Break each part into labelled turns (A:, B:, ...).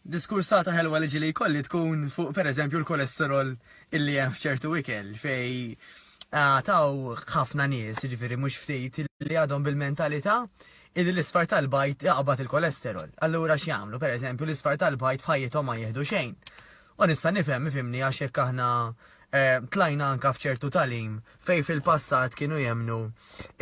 A: diskursata ħelwa li ġili jkolli tkun fuq per eżempju l-kolesterol illi hemm f'ċertu ikel fej ah, taw ħafna nies, ġifiri mhux ftit li għadhom bil-mentalità illi l-isfar tal-bajt jaqbad il-kolesterol. Allura x'jagħmlu? Per eżempju l-isfar tal-bajt f'ħajjithom ma jieħdu xejn. U nista' nifhem, ifhimni, għax jekk aħna tlajna anke f'ċertu tagħlim fejn fil-passat kienu jemmnu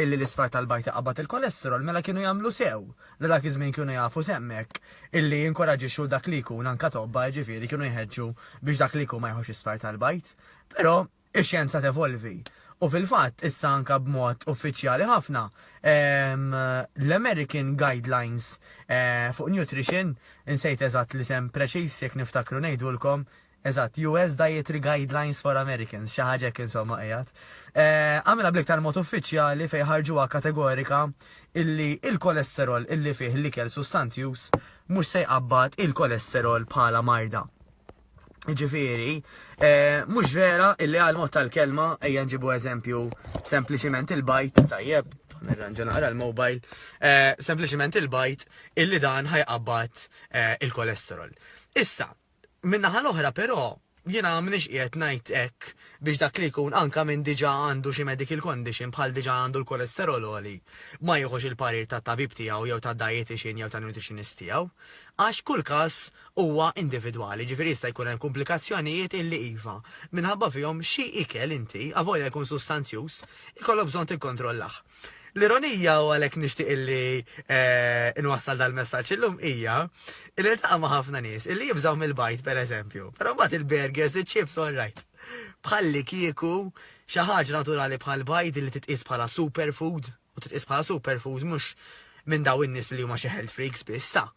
A: illi l-isfar tal-bajd iqabbad il-kolesterol, mela kienu jagħmlu sew li dak iż-żmien kienu jafu s'hemmhekk illi jinkoraġġixxu 'l dak li jkun anke tobba, jiġifieri kienu jħeġġu biex dak li jkun ma jieħux isfar tal-bajd. Però, Ix-xjenza tevolvi. U fil-fatt, issa anke b'mod uffiċjali ħafna, l-American Guidelines fuq Nutrition, insejt eżatt l-isem preċiż, jekk niftakru ngħidulkom, eżatt, US Dietary Guidelines for Americans, xi ħaġa hekk insomma qiegħed, għamilha bl-iktar mod uffiċjali fejn ħarġuha kategorika illi l-kolesterol illi fih l-ikel sustanzjuż mhux se jqabbad il-kolesterol bħala marda. Ġifieri, eh, mhux vera illi għal mod tal-kelma ejja nġibu eżempju sempliċiment il-bajt tajjeb, nirranġa naqra l-mobile, eh, sempliċiment il-bajt illi dan ħajqabbat eh, il-kolesterol. Issa, minna l-oħra però jina minix qiegħed ngħid hekk biex dak li jkun anka minn diġà għandu xi medical condition bħal diġà għandu l-kolesterol oli ma jieħux il-parir ta' tabib tiegħu jew ta' dietitian jew ta' nutritionist tiegħu. Għax kull każ huwa individwali, jiġifieri jista' jkun hemm kumplikazzjonijiet illi iva, minħabba fihom xi ikel inti, avolja jkun sustanzjuż, ikollok bżonn tikkontrollah. L-ironija, u għalhekk nixtieq illi inwassal dal-messaġġ illum, hija illi niltaqa' ma' ħafna nies illi jibżgħu mill-bajd pereżempju, però mbagħad il-burgers, iċ-chips all right. Bħallikieku xi ħaġa naturali bħall-bajd li titqies bħala superfood, u titqis bħala superfood mhux minn daw in-nies li huma xi health freaks biss ta'.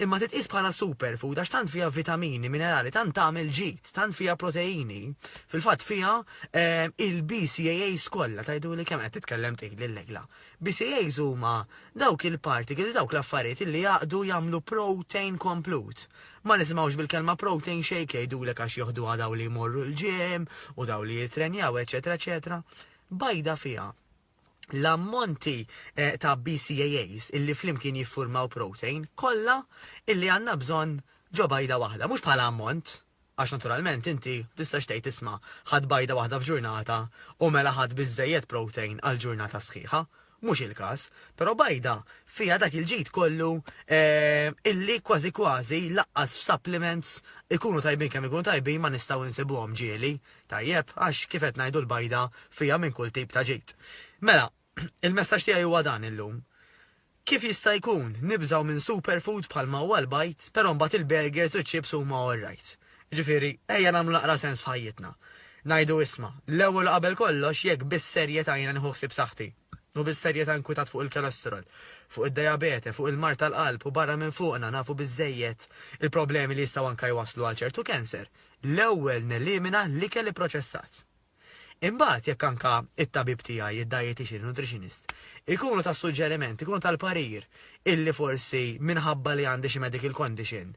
A: Imma titqis bħala superfood għax tant fiha vitamini, minerali, tant tagħmel ġid, tant fiha proteini. Fil-fatt fiha eh, il-BCAAs kollha tajdu li kemm qed titkellem tgħid l-legla. BCAAs huma dawk il-particles, dawk l-affarijiet li jaqdu jagħmlu protein komplut. Ma nisimgħux bil-kelma protein shake jgħidulek għax joħdu daw li jmorru l-ġim u daw li jitrenjaw, eċetera, eċetera. Bajda fiha l-ammonti eh, ta' BCAAs illi flimkien jiffurmaw protein kollha illi għandna bżonn ġo bajda waħda, mhux bħala ammont, għax naturalment inti tistax tgħid isma' ħadd bajda waħda f'ġurnata u mela ħadd biżżejjed protein għal ġurnata sħiħa. Mhux il-każ, però bajda fiha dak il-ġid kollu eh, illi kważi kważi laqqas supplements ikunu tajbin kemm ikunu tajbin ma nistgħu nsibuhom ġieli Tajjeb, għax kif qed ngħidu l-bajda fiha minn kull tip ta' ġid. Mela, il-messaġġ tiegħi huwa dan illum. Kif jista' jkun nibżgħu minn superfood bħalma huwa l-bajd, però mbagħad il-burgers u ċ-chips huma all right? Ġifieri, ejja nagħmlu naqra sens f'ħajjitna. Ngħidu isma', l-ewwel u qabel kollox jekk bis-serjetà jiena nieħu ħsieb saħħti, u bis-serjetà nkwitat fuq il-cholesterol, fuq id-dajabete, fuq il-mard tal-qalb u barra minn fuqna nafu biżżejjed il-problemi li jistgħu anke jwasslu għal ċertu cancer, l-ewwel nelimina l-ikel ipproċessat. Imbagħad jekk anke t-tabib tiegħi, id-dietician, in-nutritionist, ikunu ta' suġġeriment, ikunu tal-parir illi forsi minħabba li għandi xi medical condition,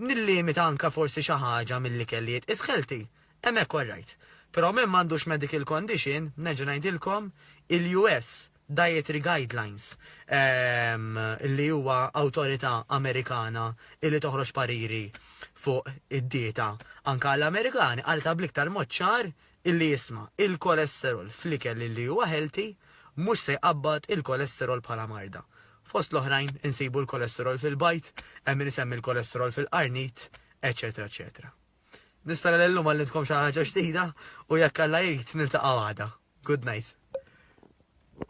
A: nillimita anke forsi xi ħaġa mill-ikel li jitqies healthy, hemmhekk all right. Però min m'għandux medical condition, nerġa' ngħidilkom, il-US, Dietary Guidelines, li huwa awtorità Amerikana li toħroġ pariri fuq id-dieta anke għall-Amerikani, qaltha bl-iktar mod ċar li isma', il-kolesterol fl-ikel li huwa healthy mhux se jqabbad il-kolesterol bħala marda. Fost l-oħrajn insibu l-kolesterol fil-bajd, hemm min isemmi l-kolesterol fil-qarnit, eċċetera eċċetera. Nispera li llum għallimtkom xi ħaġa ġdida u jekk Alla jrid niltaqgħu għada. Good night.